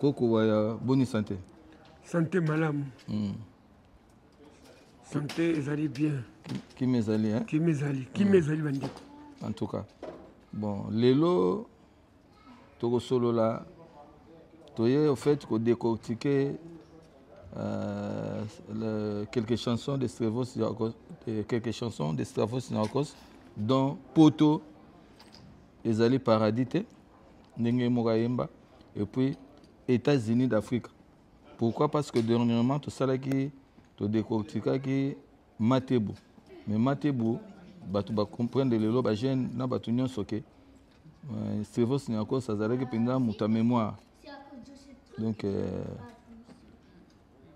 Koko waya boni sante? Sante malamu. Mm. Sante ezali bien. Kimi ezali hein? Kimi ezali, kimi mm. ezali bandeko. En tout cas. Bon, lelo tokosolola toye au fait ko décortiquer euh, le, quelques chansons de Stravos Niarcos, de, quelques chansons de Stravos Niarcos dont Poto ezali paradis te. ndenge ye moko ayemba et puis états-unis d'afrique pourquoi parce que dernièrement tosalaki todecortikaki matebo mais matebo bato bacomprendre lelo bajeune na bato nyonso ke euh, servos niakos azalaki mpenza moto ya mémoire donc euh,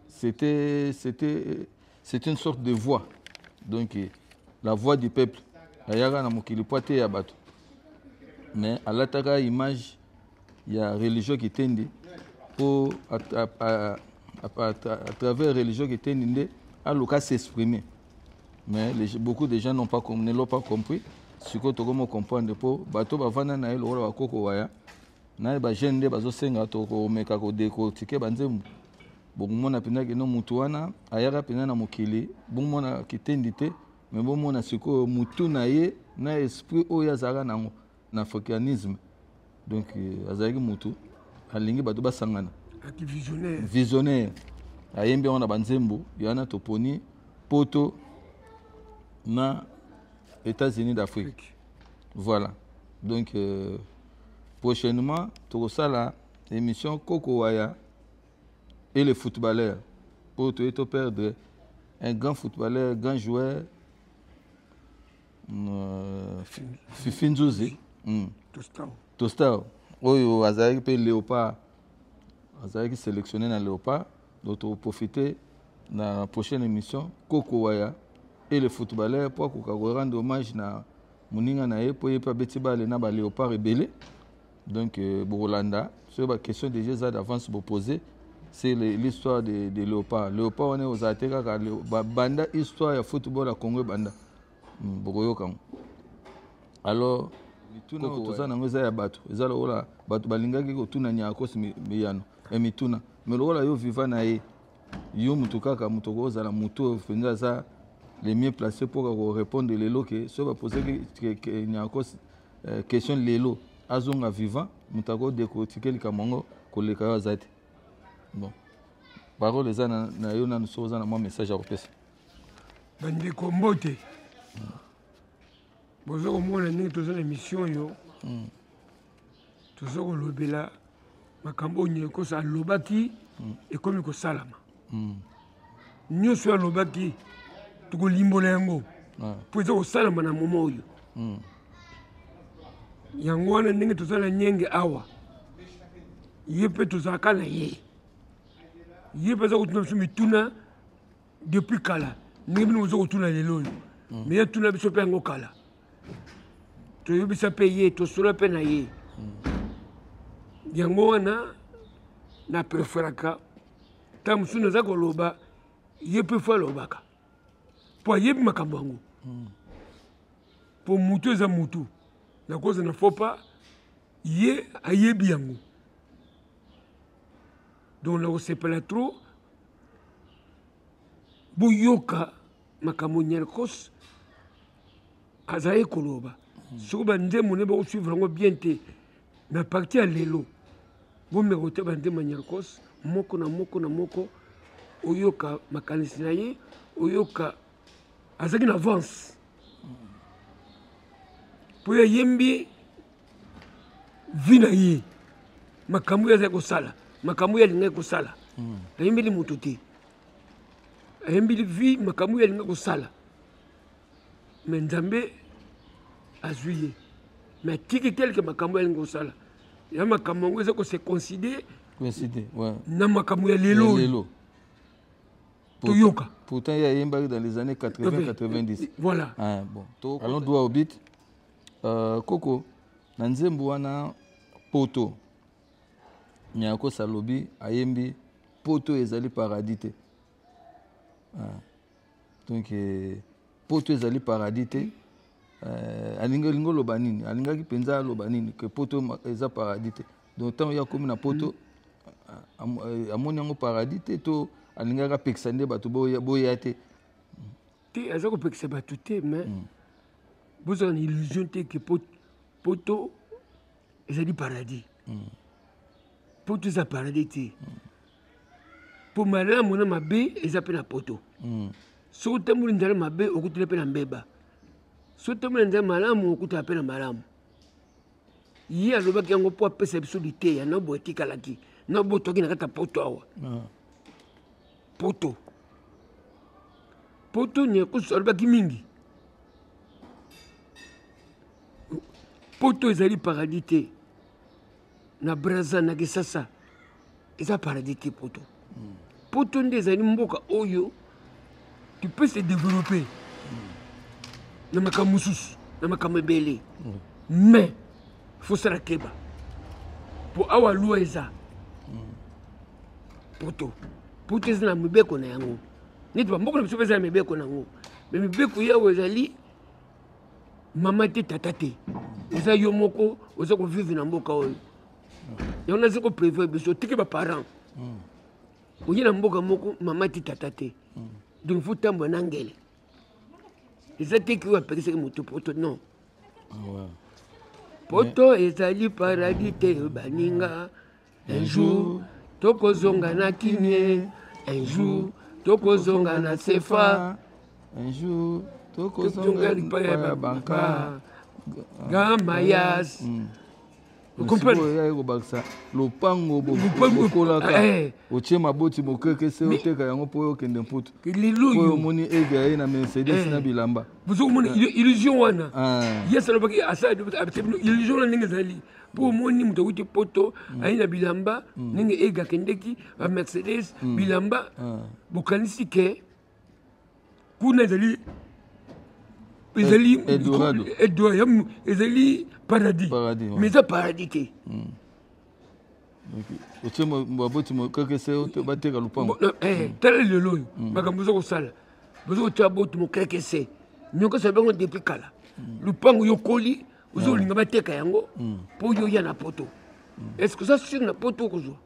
C'était, c'était, c'est une sorte de voix. Donc, euh, la voix du peuple. Ayaka na mokili po ateya bato. Mais alataka image ya religion kitendi po à, à, à, à, à travers religion kitendi nde aluka s'exprimer. Mais les, beaucoup de gens n'ont pas, ne l'ont pas compris. sikoyo tokomi comprendre mpo bato bavanda na ye lokola bakoko waya naye ba jeune nde bazosenga tokomeka kodecortike banzembo bokomona mpenza kino motu wana ayaka mpenza na mokili bomona kitendi te me bomona sikoyo motu na ye na esprit oyo azalaka nango na africanisme donc euh, azalaki motu alingi bato basangana visionnaire ayembi yango na banzembo yana toponi poto na états-unis d'afrique voilà donc euh, prochainement tokosala émission koko waya et le footballeur oyo toye to perdre un grand footballeur grand joueur euh, fifi nzuzi mm. tostar oyo azalaki mpe léopard azalaki sélectionné na léopard donc tokoprofite na prochaine émission koko waya et le footballeur mpo akoka korendre hommage na moninga na ye mpo ye mpe abeti bale na ba léopard ebele donc euh, bokolanda soki ba question déjà eza d'avance bopose c'est l'histoire de, de léopard léopard wana ekozala te kaka banda histoire ya football ya congo ebanda hmm, bokoyoka yango alors mituna oyo toza nango eza ya bato eza lokola bato balingaki kotuna nyakos miyano ya mituna mais lokola yo viva na ye yo moto kaka moto okoki kozala moto oyo mpenza aza le mieux placé mpo kaka korépondre lelo ke soki bapose nyakos euh, question lelo azonga vivant moto akodekotike likambo yango koleka yo aza te bon parole eza na, na yo nanu soki oza na mwa message ya kopesa bandeko mbote boza komona ndenge toza na émission oyo mm. toza kolobela makambo oyo nyekosa alobaki mm. ekomi kosalama mm. nyonso oyo alobaki tokolimbola yango mpo eza kosalama na moma oyo mm. yango wana ndenge toza na nyenge awa ye mpe tozalaka na ye ye mpe aza kotuna biso mituna depuis kala ndenge bino bozo kotuna lelo oyo hmm. meye tuna biso mpe yango kala toyebisa mpe ye tosola mpe na ye hmm. yango wana na preferaka ntango mosusu naza koloba ye mpe fo alobaka mpo ayebi makambo yango hmm. mpo motu eza motu nakozana fo pa ye ayebi yango donc nakosepela trop boyoka makambo nyarkos azalaki koloba hmm. soki banzembo ne bakosuivre yango bien te na parti ya lelo bomeka kote banzembo ya nyarkos moko na moko na moko oyoka makanisi na ye oyoka azalaki na avance mpo ye ayembi vi na ye makambo oyo azali kosala makambo oyo alingaki kosala hmm. ayembeli moto te ayembeli vi makambo oyo alingaki kosala me nzambe azwi ye me atiki teleke makambo oyo alingi kosala ya makambo yango eza kose coïncide na makambo ya lelo toyoka pourtant ye ayembaki dans les années 80 90 voilà ah, bon to allons droit au but euh, koko na nzembo wana poto nyakosa alobi ayembi poto ezali paradis te ah. donc euh, poto ezali paradis te euh, alingi olingi oloba nini alingaki mpenza aloba nini ke poto eza paradis te donc ntango ye akomi na poto eh, amoni yango paradis te to alingaki apekisa nde bato boya te te aza kopekisa bato te mais mm. bozala na illusion te ke poto ezali paradis mm. poto eza paradis te mpo mm. malamu na mabe eza mpe na poto soki otamboli nzala mabe okutela mpe na mbeba soki otamboli na nzala malamu okutela mpe na malamu ye alobaki yango mpo apesa biso liteya na boye etikalaki na botwaki na kati ya poto awa ah. poto poto nyakusu alobaki mingi poto ezali paradis te na braza na kisasa eza paradis te poto poto nde ezali mboka oyo tu peux se développer na makambo mosusu na makambo ebele mais fosala keba mpo awa lwa eza poto poto eza na mibeko na yango neti bamboka na biso mpe eza na mibeko na yango me mibeko yawo ezali mama te tata te oza yo moko oza kovivre na mboka oyo yango nazo ko prévoir biso tiki ba parents oye na mboka moko mama ti tata te donc faut tambwa na ngele eza te ki oyo apekisaki moto poto non ah poto ezali paradis te baninga un jour tokozonga na kinie un jour tokozonga na sefa un jour tokozonga lipa ya banka gamayas mm. okomprendeoyaki kobakisa lopango bokolaka eh, eh. otie maboti mokeke se oteka yango mpo okende mputu oyo omoni eve aye na mercedes na bilamba bozo komona illusion wana yes alobaki asalabino illusion wana ndenge ezali mpo omoni moto akuti poto mm. aye na bilamba mm. ndenge ege akendeki bamercedes mm. bilamba bokanisi ke kuna ezali ezali eldorado ezali paradis mais eza paradis te hmm. otie baboti mokekese bateka lopango eh, eh, hmm. tala lelo oyo hmm. makambo oza kosala boza kotia boti mokekese nyokesa ya bango depuis kala lopango yokoli ozo olinga bateka yango mpo yo ya na poto est ce que oza sur na poto okozwa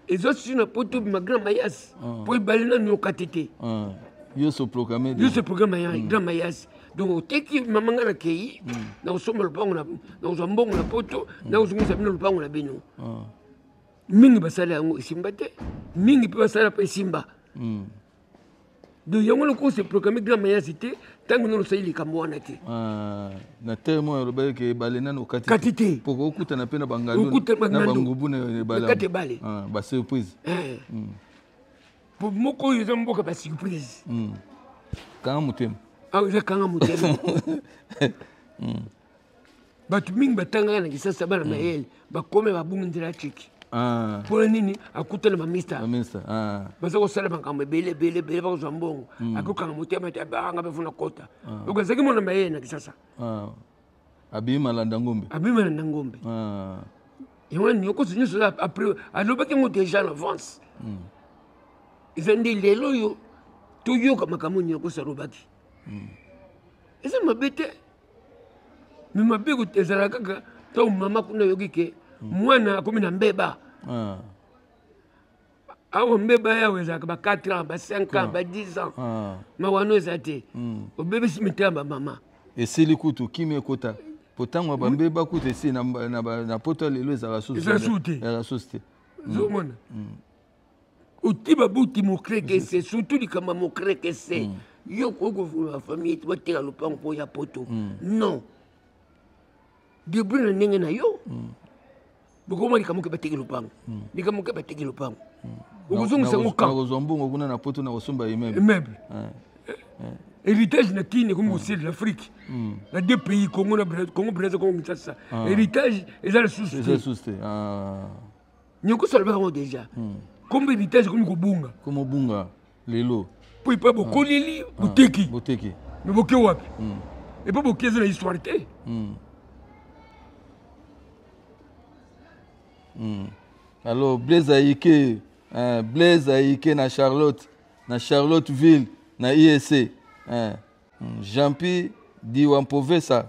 ezo si na poto bima grand mayas ah. po ebale nanu yokate te ah. yo se programme yo se programme ya mm. grand mayas donc oteki mama nga na kei mm. na kosomba lopango na kozwa mbongo na poto mm. na kozongisa bino lopango na bino ah. mingi basala yango esimba te mingi mpe basala mpe esimba donc yango lokola ose programme grand mayasi te ntango nano osali likambo wana te ah, na terme oyo alobaki ke ebale nano okati te poko okutana mpe na bangalubangubu na ebalekati ebale ah, basurprise eh. hmm. po moko oyo eza mboka basurprise hmm. kanga motema awa ah, eza kanga motema hmm. bato mingi batangaka na kisasa bana mayele mm. bakomi babungi nzela tiki ah. mpona nini akuta na bamista ah. baza kosala makambo ebele ebele ebele bakozwa mbongo mm. akokanga motema te abanga bafo na kota ah. oko azalaki mwana mayele na kisasa abimi malanda ngombe abimi malanda ngombe yango nini okosi nyonso après alobaki yango déjà na avance mm. eza nde lelo oyo toyoka makambo nini okosi alobaki eza mabe te mais mabe ezala kaka ntango mama kuna ayoki ke mwana akomi na mbeba ah. awa mbeba yawo ezalaka ba 4 ans ba 5 ans ba 10 ans ah. mawano eza te hmm. obebisi mitema bamama esili kutu kimi ekota po ntango bambeba kutu esili na poto lelo ezalaka susu te hmm. zomona hmm. otiba buti mokreke se surtout likambo ya mokreke se mm. yo okoki kovulaka famille ete bateka lopango mpo ya poto mm. non debri na ndenge na yo mm. bokoma likambo ke bateki lopango likambo ke bateki lopango okozongisa yango kakozwa mbongo kuna na poto na kosomba immeuble héritage na kini ekomi kosili na afrique na deux pays congo na congo braza congo kinshasa héritage eza lisusu te nyokoso alobaka ngo deja hmm. kombe vitesse ekomi kobunga komobunga lelo mpo epai bokoleli hmm. boteki hmm. boteki me boke wapi epai boke eza na histoire te alors blaise ayike eh, blaise ayike na charlotte na charlotteville na iec eh, jeanpi diwampovesa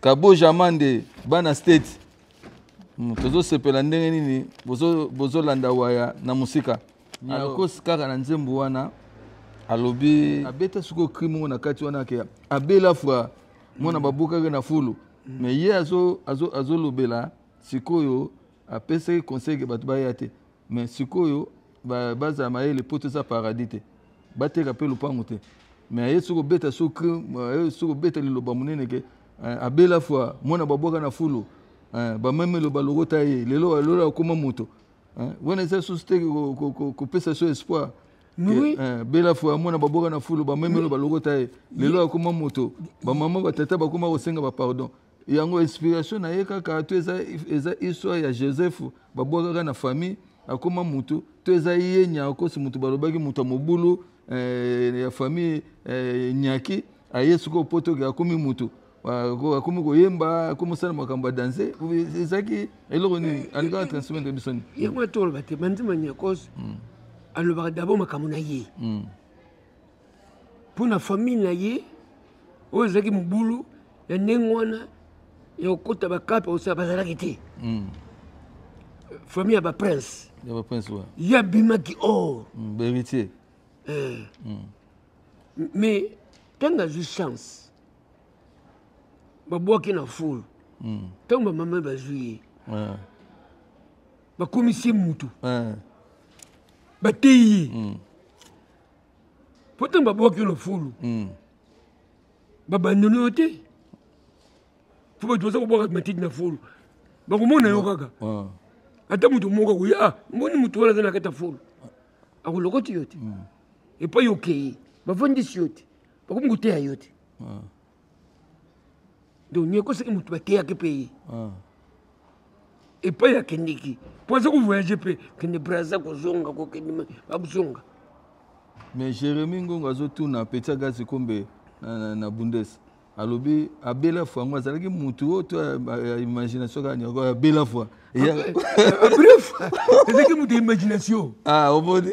kaboja mande bana state hmm, tozosepela ndenge nini bozolanda bozo waya na mosika akosi kaka na nzembo wana alobi abeta sikoyo cri moko na kati wana ke abela fwa mwana mm. babukaki na fulu mm. me ye azolobela azo, azo sikoyo apesaki conseil ke bato baya te mais sikoyo bazala mayele poto eza paradis te bateka mpe lopango te mais aye soki obeta soki aye soki obeta liloba monene ke eh, abela fwa mwana babwaka na fulu eh, bamemi eloba lokota ye lelo lelo akoma moto eh, wana eza susu te kopesa so espoir oui. eh, bela fo ya mwana baboka na fulu bamemelo balokota ye lelo akoma moto bamama batata bakoma kosenga bapardon yango inspiration na ye kaka to eza, eza histoire ya joseph babwakaka na famille akoma mutu to eza ye nyakosi mutu balobaki mutu ya mobulu eh, ya famille eh, nyaki aye sikoyo potoke akomi mutu akomi koyemba akomi osala makambo ya danse ezalaki eloko nini alingaka transmettre biso nini yango wana toloba te banzima nyakos hmm. alobaka dabord makambo na ye hmm. mpo na famille na ye oyo ezalaki mobulu ya ndenge wana ya kokota bakape osala bazalaki te mm. famille ya baprince ye abimaki or mm, baheritier eh. mm. mais ntango azwi chance babwaki na fulu ntango bamama bazwi ye eh. bakomisi ye motu eh. bateyi ye mpo ntango babwaki yo na fulu hmm. babandoni yo te fo bato baza kobwaka matiti na fulu bakomona yo kaka ah. ata moto moko akoya ah, mboni moto wana aza na kati ya fulu akolokoti yo te hmm. epai okei bafandisi yo te bakomi koteya yo te ah. donc nieko soki motu bateyaki mpe ye ah. epai akendeki mpo aza kovoyage mpe kende braza kozonga kokende bakozonga mais jérémi ngongo azotuna peti agazi kombe na, na, na bundes alobi abela fwa yango azalaki mutu oyo to ya imagination kaka nyoko abela fwa bref ezalaki mutu ya imagination ah omoni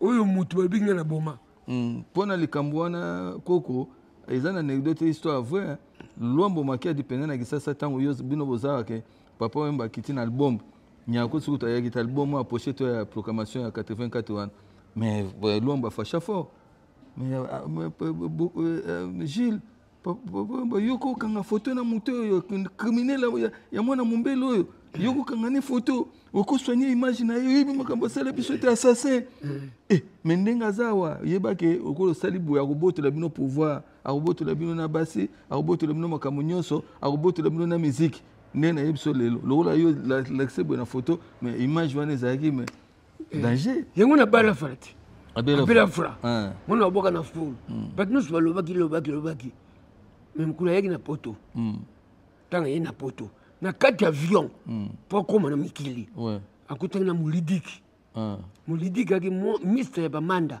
oyo mutu balobi nga na boma hmm, mpo na likambo wana koko eza na anecdote histoire vrai luambo makiadi mpenza na kisasa ntango yo bino bozalaka ke papa wemba akiti na album nyako soki tayaki ta album oyo apoche to ya proclamation ya 84 wana mais luambo afasha fort mais euh, euh, euh, gilles yo kokanga foto na moto oyo criminel ya mwana mombele oyo yo kokanga ne foto okosoigne image na ye oyebi makambo asala biso te assassin eh, me ndenge aza awa yebake okola osali boye akobotola bino pouvoir akobotola bino na basi akobotola bino makambo nyonso akobotola bino na miziki nde nayebi biso lelo lokola yo lakise boye na foto me image wana ezalaki me eh, danger yango na bala fala te abela fula eh. mwana waboka na fulu hmm. bato nyonso balobaki lobaki lobaki me mokolo ayaki na poto ntango hmm. ayei na poto na kati ya avion hmm. mpo akóma na mikili akutaki na molidiki molidiki ayaki mista ya bamanda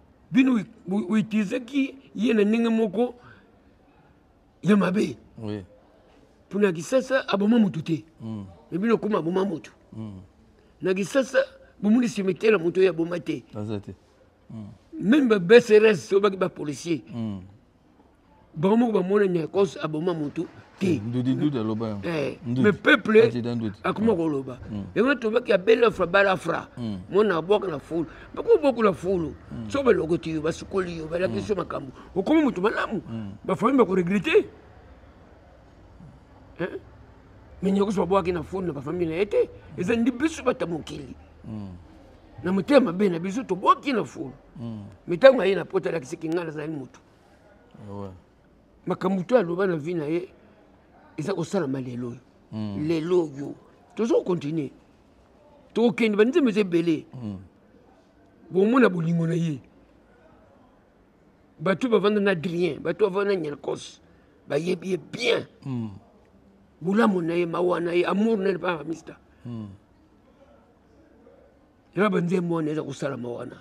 bino oitilizaki ye na ndenge moko ya mabe oui. mpona kisasa aboma motu te mm. me bino okoma aboma motu mm. na kisasa bomoni cimetiere ya moto oyo aboma te meme babsrs oyo baki bapolicier mm. bango moko bamona nyakos aboma motu te eh, ndudi ndudi aloba yango eh, mais peuple akoma koloba mm. yango tobaki abela fra bala fra mm. mona abwaka na fulu bakomi bokola fulu mm. so balokoti yo basukoli yo balakisi yo makambo okomi motu malamu bafami bakoregrete eh? mais nyakos babwaki na fulu na bafami na ye te eza ndi biso bata mokili na motema mabe na biso tobwaki na fulu mais ntango aye na poto alakisiki ngai nazali motu makambo to aloba na vie na ye eza kosalama lelo oyo hmm. lelo oyo toza kokontinue tokokende banzembo eza ebele hmm. bomona bolingo na ye bato bavanda na adrien bato bavanda na nyelkos bayebi ye bien hmm. bolamu na ye mawa na ye amour na ye mpaka bamista na banzembo wana eza kosalama wana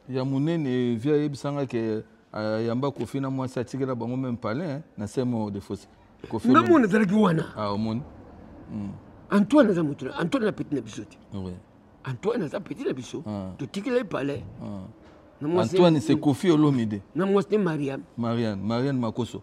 ya munene via yebisanga ke euh, yamba kofi na mwasi atikela bango meme palin na semo de fosse kofi nga mona zalaki wana ah omoni hmm. antoine aza motu antoine na petit na biso te antoine aza petit na biso ah. totikela ye palin ah. antoine se kofi olomide na mwasi ne mariane mariane mariane makoso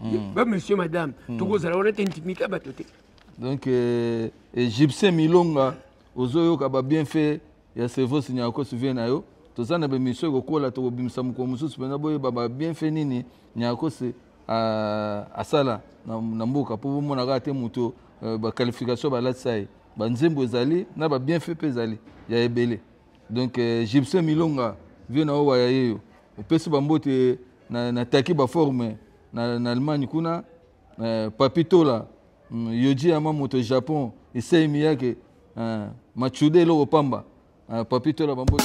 hmm. ba monsieur madame hmm. tokozala wana te intimité ya bato te donc euh, egyptien milonga ozoyoka babienfait ya cerveau sinyako souvie na yo toza na bemission ekokola tokobimisa mokolo mosusu mpenza boyeba babienfait nini nyakosi asala na mboka mpo bomona kaka te moto euh, baqualification balatisa ye banzembo ezali na babienfait mpe ezali ya ebele donc euh, gibson milonga vie na yo waya yeyo opesi bambote na, na taki ba forme na, na allemagne kuna eh, papi tola mm, yoji yama moto ya japon esei miyake eh, machude eloko pamba eh, papi tola bambota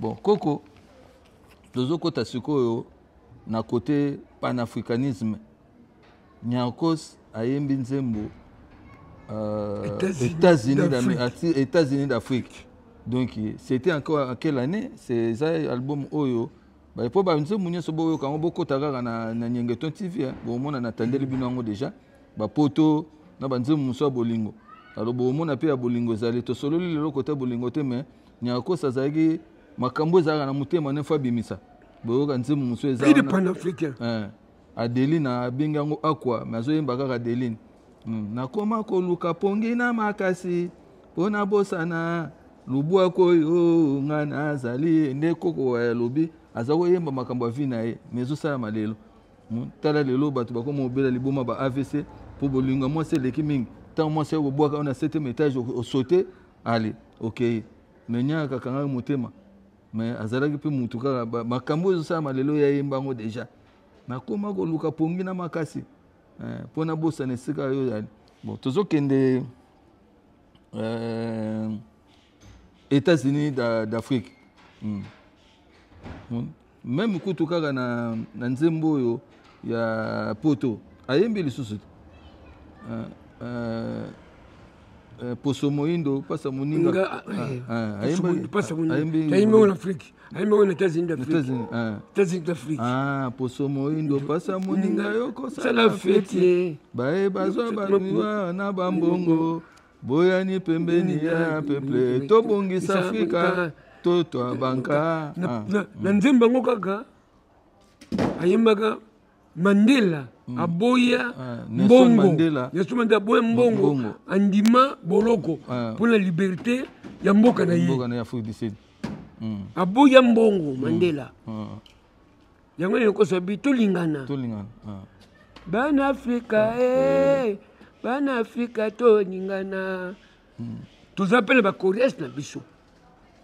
bon koko tozokota sikoyo na kote panafricanisme nyarcos ayembi nzembo euh, états-unis d'afrique donc c'était encore à quelle année eza album oyo baye mpo banzembo nyonso boyoka yango bokota kaka na, na nyengeton tv eh. bomona natandeli bino yango deja bapoto na banzembo mosusu ya bolingo alo bomona mpe ya bolingo ezali tosololi lelo kota bolingo te mais Niarcos azalaki makambo ezalaka na motema nefo abimisa boyoka nzembo mosusu eza il est panafricain eh. adeline abengi yango akwa me azoyemba kaka adeline hmm. nakoma koluka pongi na makasi mpo nabosana lubwaku oyo nga nazali nde koko alobi aza koyemba makambo ya vi na ye me ezosalama lelo hmm. tala lelo bato bakoma obela liboma ba avc mpo bolingo ya mwasi eleki mingi ntango mwasi ayo kobwaka yo na septième étage osote ale okei me nya akakangaki motema me azalaki mpe mutu kaka makambo oyo ezosalama lelo ya yemba yango deja nakoma koluka pongi na makasi eh, mpo nabosana esika yo ozali bon tozokende euh, états-unis d'afrique hmm. hmm. meme kutu kaka na, na nzembo oyo ya poto ayembi lisusu te uh, uh, uh, poso moindo pasa moninga ayembi yango na afrike ayembi yango na états-unis d'afrique d'afrique ah, poso moindo pasa moninga yo kosala feti baye bazwa banuwa na bambongo boyani pembeni ya peple tobongisa afrika totwa banka ah. na nzembo yango kaka ayembaka mandela mm. aboya ah, mbongo nelson mandela aboya mbongo andima boloko ah. mpo na liberté ya mboka na ye mm. aboya mbongo mm. mandela yango nini okozwa bi tolingana tolingana ah. bana afrika ah, eh, eh. bana afrika tolingana hmm. toza mpe na bacoreas na biso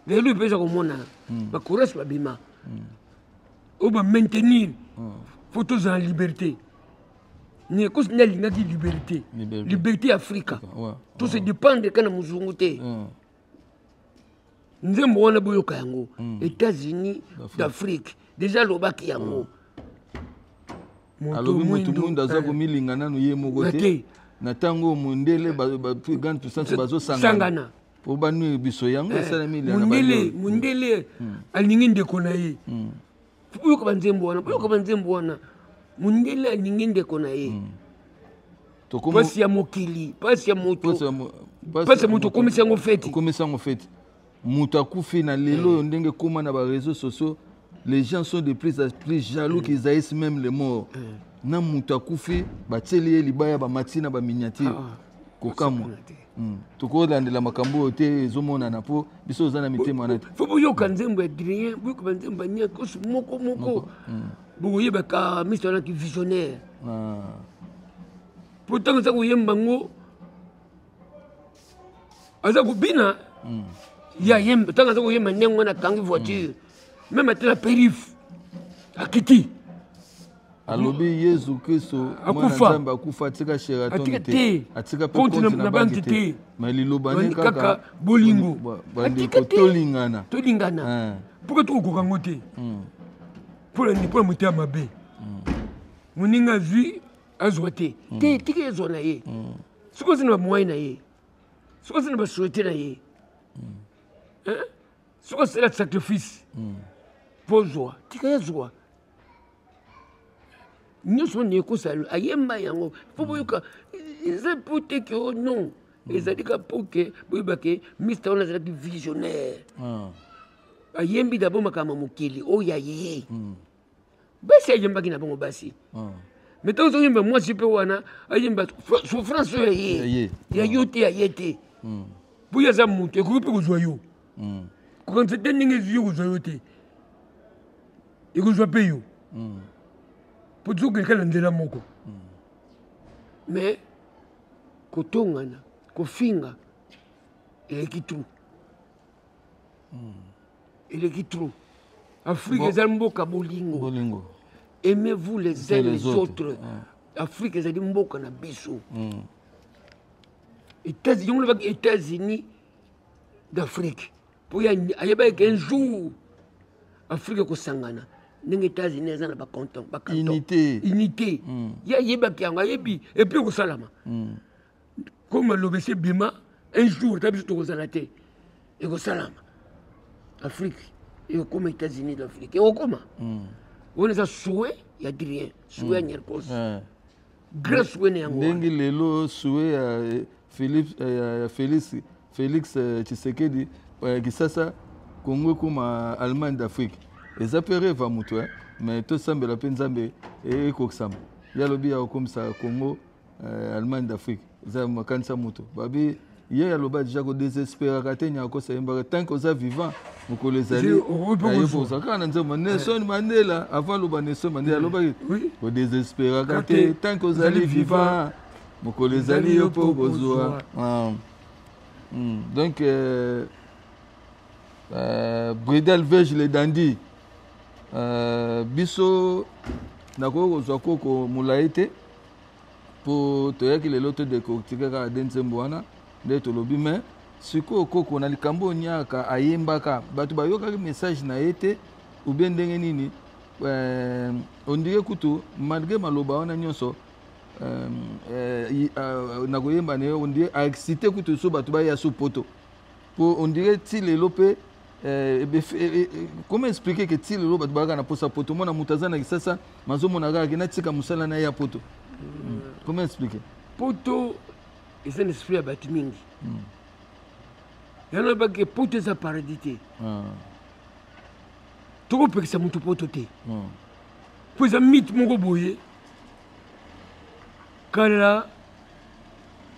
lelo mpe eza komonana hmm. bacoreas babima hmm. oyo bamaintenir fo tozala liberté nekosi nde alingaki liberté liberté ya afrika tose dépendre kaka na mozungu te nzembo wana boyoka yango mm. états-unis d'afrique deja alobaki yango mm. alobi moto mwinda aza eh. komilinga nano ye moko te na ntango oyo mondele gane puissance bazosangana mpo banui biso yango eh. esalami mundele alingi ndeko na ye mm. boyoka banzembo wana boyoka banzembo wana mondele alingi ndeko na ye hmm. mpasi ya mokili mpasi ya moto mpasi ya moto okomisi yango feti okomisi yango feti moto akufi na lelo oyo ndenge ekóma na bareseau sociaux les gens sont de plus en plus jaloux mm. qu'ils haïssent même les morts mm. na moto akufi batieli ye libaya bamati na baminiature ah, ah. kokamwa Hmm. tokolandela makambo oyo te ezomonana mpo biso oza na mitema wana te fo boyoka hmm. nzembo ya drien boyoka banzembo ya niakosi moko moko hmm. bokoyebaka miso wanaki visionnaire ah. mpo ntango aza koyemba yango aza kobina ye ayemba ntango aza koyemba ndenge wana akangi voiture meme ate na perif akiti alobi yesu kristo mwanazambe akufa atika sheraton te atika mpe konti na banki te ma liloba ne kaka bolingo bandeko tolingana tolingana mpoka eh. tokokoka yango te hmm. mpola nini mpola motema mabe hmm. moninga azwi azwa te hmm. te tika ezwa na ye soki oza na bamwai na ye soki oza na basoyete na ye soki osala sacrifice mpo ozwa tika ezwa nyonso nde ekozala ayemba yango mpo boyoka eza mpo te ke o oh non hmm. ezali ka mpo ke boyeba ke mister wana azalaki visionnaire hmm. ayembi dabo makambo ya mokili oyo oh, ya ye hmm. basi ayembaki na bango basi mais ntango ozoyemba mwasi mpe wana ayemba souffrance oyo ya ye ya yo te ya ye te boye aza moto ekoki mpe kozwa yo mm. kokanisa te ndenge ezuki kozwa yo te ekozwa mpe yo mm. mpo tozokende kaka na nzela moko mm. mais kotongana kofinga eleki trop hmm. eleki trop afrique ezali mboka bolingo aimez vous les uns les autres afrique ezali mboka na biso hmm. yango lobaki états-unis d'afrique mpo ayebaki ke un jour afrique ekosangana ndenge états-unis eza na bacanton bacantonunité unité mm. ye ayebaki yango ayebi epuis ekosalama mm. comme aloba esi ebima un jour ta biso tokozala te ekosalama afrique ekokoma états-unis d'afrique ekokoma mm. wana eza souhait ya adrien souhait ya mm. nyerkos mm. grace wene yango ndenge lelo sue ya eh, Philippe eh, ya Felix Felix eh, Tshisekedi kisasa Congo ekoma Allemagne d'Afrique eza mpe reva moto eh? mais tosambela mpe nzambe ekokisama ye alobi ya kokomisa Congo eh, Allemagne d'Afrique eza makanisa moto babi ye aloba deja kodesesperaka te nyakosa yembaka tanke oza vivant mokolo ezali ayekoza kaka na nzembo nelson eh. mandela avant aloba nelson mandela alobaki kodesesperaka te tanke ozali vivant mokolo ezali yo mpo okozwa ah. hmm. donc euh, euh, bridal vege le dandi euh, biso nakoki kozwa koko molai te po toyaki lelo to decortiquer kaka de nzembo wana nde tolobi mais sikoyo koko na likambo oyo niaka ayembaka bato bayokaki message na ye te ou bien ndenge nini euh, ondire kutu malgré maloba wana nyonso euh, euh, euh, na koyemba na ye ondire aexcite kutu so bato baya so poto po ondire ti lelo mpe Euh, eh, eh, eh, comment expliquer que ti lelo bato bayaka na mposa poto mwana moto aza na kisasa mazomona kaka ke natika mosala na ye ya poto hmm. comment expliquer poto eza na esprit ya bato mingi hmm. yango nabaki poto eza paradis te ah. tokopekisa moto poto te hmm. mpo eza mite moko boye kala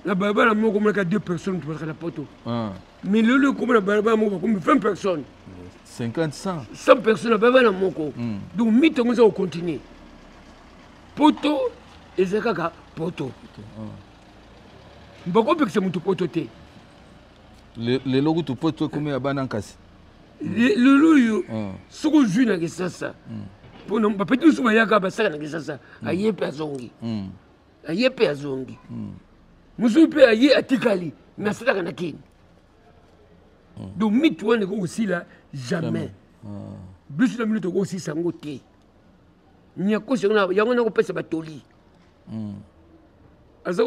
na balabala moko omonaka deux personnes tobazaka na poto ah. milulu ekomi na balabala moko bakomi 20 personnes 50 100 100 personnes na balabala moko mm. donc mito yango eza kocontinue poto eza kaka poto ah. bakopekisa motu poto te lelo kutu poto ekomi ya bana nkasi lelo oyo ah. soki ozwi na kisasa mm. mpona bapeti mosusu bayaka basaka na kisasa mm. aye mpe azongi aye mpe azongi mosusu mpe aye atikali me asalaka na kini donc miti wana ekoki kosila jamais biso na bino tokoki kosisa yango te nyakosi yango nakopesa batoli hmm. aza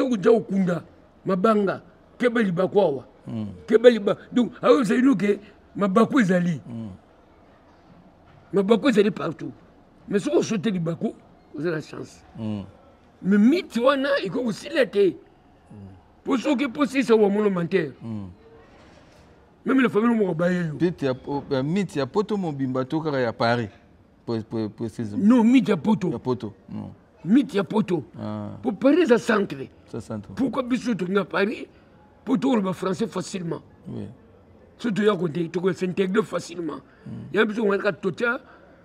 koja kokunda mabanga keba libaku awa hmm. keba libaku donc akoyebisa bino ke mabaku ezali hmm. mabaku ezali partout mais soki osote libaku oza na chance mm. mais miti wana ekoki kosila te mpo soki mposisa wa monomantere mm. meme la famille moko baye yo miti ya poto mobimba to kaka ya paris non miti ya poto miti ya poto mpo ah. paris eza centre pourquoi biso toki na paris mpo tokoloba français facilement so toya kote tokoya s'intégrer facilement mm. ya biso kaka totya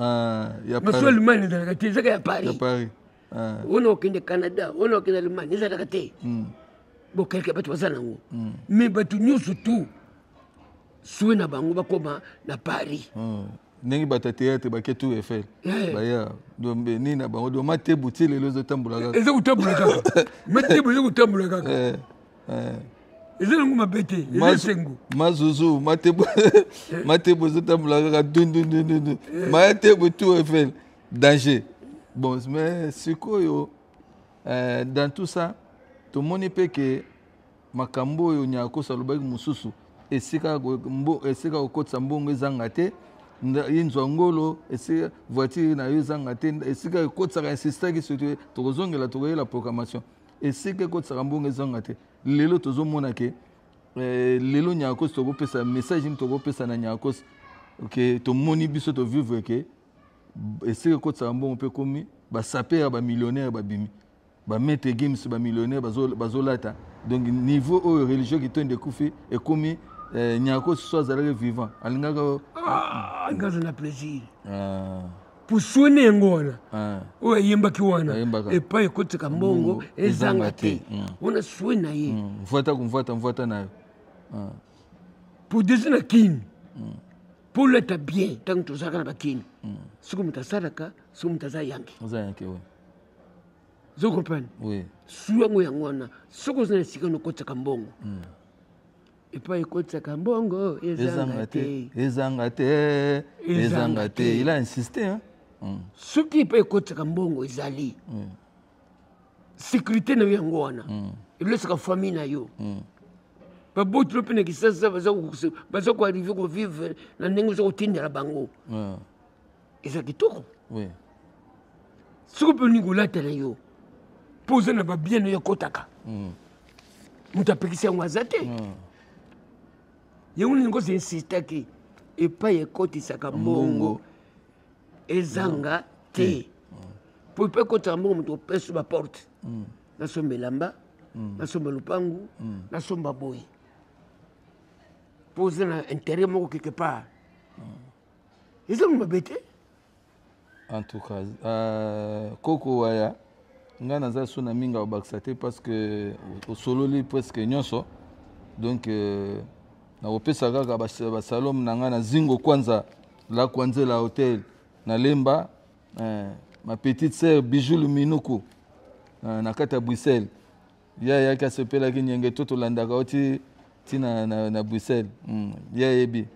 Ah, masuwa allemagne ezalaka te ezaka ya paris ah. ona okende canada ona okende allemagne ezalaka te hmm. bokeleke bato baza nango hmm. mais bato nyonso tu sue na bango bakoma na paris hmm. ndenge bato ya théâtre bake tour eiffel eh. baya dombe nini na bango do matebu ti lelo ezotambola kaka eza kotambola kaka matebu eza kotambola kaka eh. eh. eza nango mabe te eza esengo mazuzu matebo ezotambola kaka dundundundu eh. maya tebo tour efel danger bon mais sikoyo euh, dans tout ça tomoni mpe ke makambo oyo nyakoso alobaki mosusu esika kokotisa mbongo ezanga te ye nzwa ngolo esika voiture na yo ezanga te esika ekotisaka insistaki soki tokozongela tokoyela programmation esika ekotisaka mbongo ezanga te lelo tozomona ke eh, lelo nyakos tokopesa message nini tokopesa na nyakos ke tomoni biso tovivre ke esika ekotisaka mbongo mpe ekomi basapere bamillionnaire babimi bamete games bamillionnaire bazolata donc niveau oyo religion kitondo ekufi ekomi eh, nyakos so azalaki vivant alingaka ah, nga aza na plaisir ah. pusoni yango wana ah. oyo ayembaki wana epai ekotika mbongo mm, ezanga te mm. wana swe na ye mm, mvwata kumvwata mvwata na yo ah. podesi na kini mpo olata bien ntango tozalaka na bakini soki moto asalaka soki moto aza yanke ozo comprendre swi yango yango wana soki oza na esika nokotaka mbongo epai ekotisaka mbongo ezanga te ezanga te ezanga te il a insisté hein? Mm. soki epai ekotisaka mbongo ezali mm. sécurité na yo yango wana mm. elosaka famille na yo mm. baboti no mpe na kisasa baza koarrive kovivre na ndenge oza kotindela bango mm. eza kitoko oui. soki mpe olingi kolata na yo mpo oza na babien na yo ekotaka mm. moto apekisi yango aza te mm. yango nini kozo insistaki epai ekotisaka mbongo ezanga mm. te mpo mm. epai ekotisaka mbongo moto opeso baporte mm. nasomba elamba mm. nasomba lopangu mm. nasomba boye mpo oza na interet moko quelque part mm. ezangi mabe te en tout cas euh, koko waya ngai naza so na mingi akobakisa te parce que osololi presque nyonso donc euh, nakopesa kaka basalome na ngai na zingo kwanza la kwanze la hotel na lemba euh, ma petite sœur bijou luminuku euh, na kati ya bruxelles ye ayaki asepelaki nyenge to tolandaka yo ti ti na, na, na bruxelles mm. ye ayebi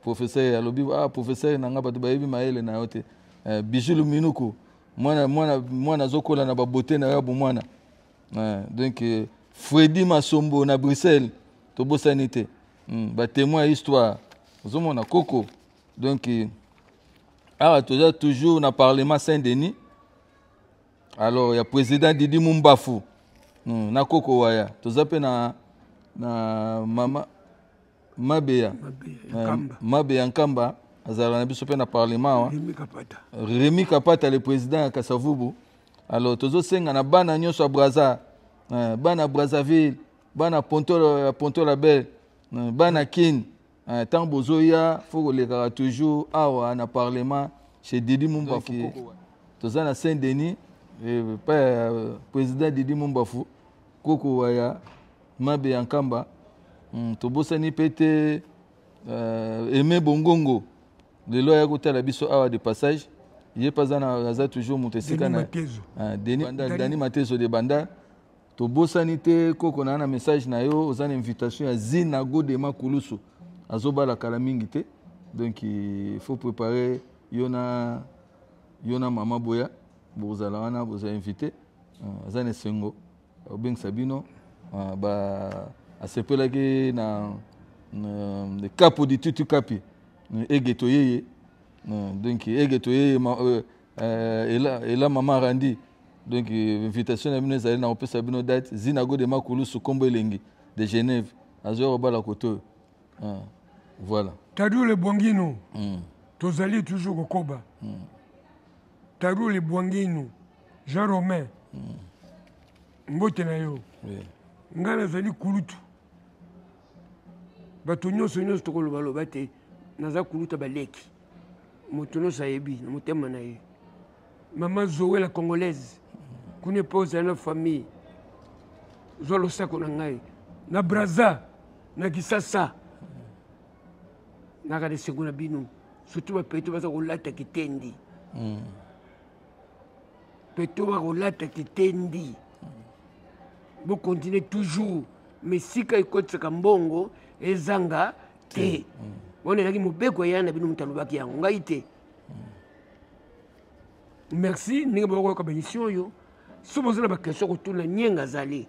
professeur alobi ah, professeur na ngai bato bayebi mayele na yo te eh, bijulu minuku mwana mwana mwana azokola na babote na yo ya bomwana eh, donc eh, fredi masombo na bruxelles tobosani te mm. batemoin ya histoire ozomona koko donc eh, awa toza toujours na parlement saint denis alors ya président didi mumbafu hmm, na koko waya toza mpe na, na mama mabeya mabeya eh, nkamba azalaka na biso mpe na parlement wa remi kapata le président ya kasavubu alors tozosenga na bana nyonso ya braza eh, bana brazzaville bana ponto la belle eh, bana kin Eh, tango bozoya fo kolekaka toujours awa na parlement chez didi mumbafu toza na saint denis eh, eh, président didi mumbafu koko waya mabe ya nkamba hmm, tobosani mpe te aime bongongo lelo aya kotala biso awa de passage ye mpe aza toujours moto esika na dani matezo de banda tobosani te koko na na message na yo oza na invitation ya zina godema kulusu azobala kala mingi te donc il faut préparer yo na yo na mama boya bozala wana boza invité euh, aza na esengo obengisa bino euh, ba asepelaki na euh, kapo ditutu kapi egeto yeye donc egeto yeye Euh, ela, ela mama randi donc euh, invitation na bino ezali na kopesa bino date zinago de makulusu nkombo elengi de genève azoya kobala kote oyo ah, voilà tadule bwanginu mm. tozali toujours kokoba mm. tadule bwanginu jean romain mm. mbote na yo oui. ngai nazali kulutu bato nyonso nyonso tokolobaloba te naza kuluta baleki moto nyonso ayebi na motema na ye mama zoe la congolaise kuna epa ozali na famille zwa losako na ngai na braza na kisasa naka na esengo na bino surtout bapeto baza kolata kitendi mm. peto bakolata kitendi bokontinue toujours mesika ekotisaka mbongo ezanga te wana ezalaki mobeko eya na bino moto alobaki yango ngai te merci ndenge bokoyoka baemission oyo so boza na baquestion kotuna nienga azali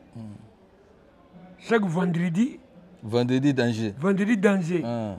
chaque vendredi vendredi danger vendredi danger ah.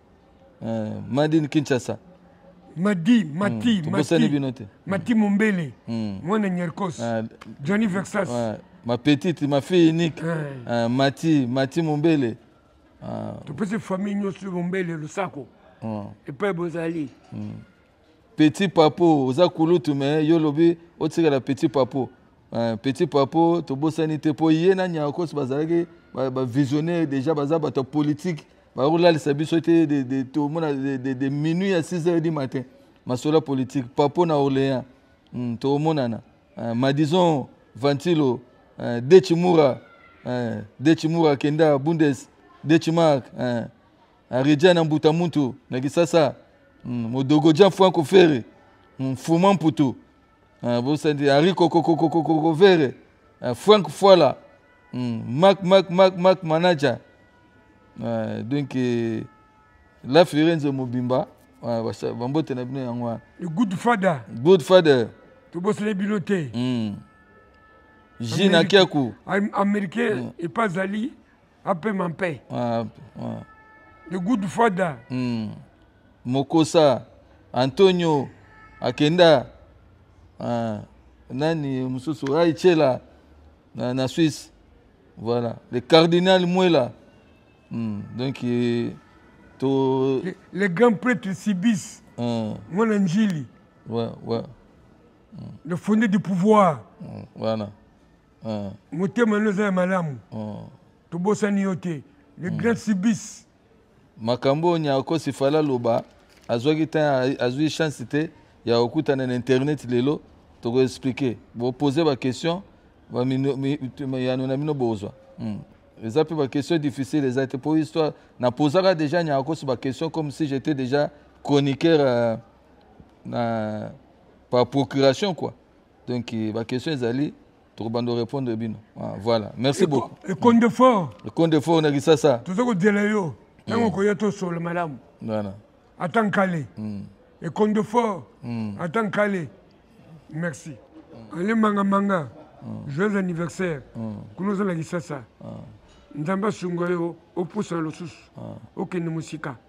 Uh, madin kinshasa madi mati mm, mati bino te mati mombele mm. mwana nyerkos uh, ah, johnny vexas uh, ma petite ma fille unique uh, uh, mati mati mombele uh, topesi famille nyonso mombele losako uh, epai bozali mm. Petit Papo, oza kulutu mais yo lobi otikala Petit Papo. Euh, petit Papo, tobosani te po ye na Nyakos bazalaki ba, ba visionnaire déjà baza bato politique bakolalisa biso te de, de, tomona de, de, de minuit à 6 heures du matin masolo politique Papo na Orléans mm, tomonana euh, Madison Ventilo euh, Dechimura euh, Dechimura Kenda Bundes Dechimark euh, Areja na mbuta muntu na Kisasa mm, modogo ja Franco Ferre mm, Fuma Mputu ah, bosandi Ari kokokokokoko Ferre ah, Frank Fwala mm, Mac Mac Mac Mac Manager ah, donc eh, la Firenze mobimba ah, basa- bambote na bino yango wana le good father good father tobosana bino te mm. Gina Amerika- Kiaku Am- américain epa azali apema mpe ah, ah. the good father mm. mokosa antonio akenda ah, nani mosusu raichela na, na suisse voilà le cardinal mwela mm. donc eh, to le, le grand prêtre sibis mm. mwana njili ouais, ouais. Mm. le fondé du pouvoir mm. voilà mm. motema no eza ya malamu mm. tobosani yo te le mm. grand sibis makambo oyo nyakosi fala loba azwaki ntan azwi chance te ya kokutana na internet lelo tokoexplike bopose baquestion yano na bino bozwa hmm. eza mpe baquestion difficile eza te mpo histoire napozaka déjà nyakosi baquestion comme si j'étais déjà chroniqueur euh, na par procuration quoi donc euh, ba question ezali tokobanda repondre bino ah, voilà merci beaucoup ekonde fort ekonde fort na kisasa toza kozela yo ntango mm. koya tosolo malamu voilà ata nkale mm. ekonde fort mm. ata nkale merci ale mangamanga joyeux anniversaire kuna oza na kisasa nzambe asunga yo opusa na losusu okende mosika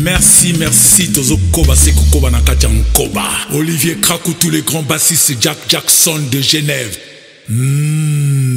merci merci tozokoba se kokoba na kati ya nkoba olivier kraku tous les grands bassiste jack jackson de genève mm.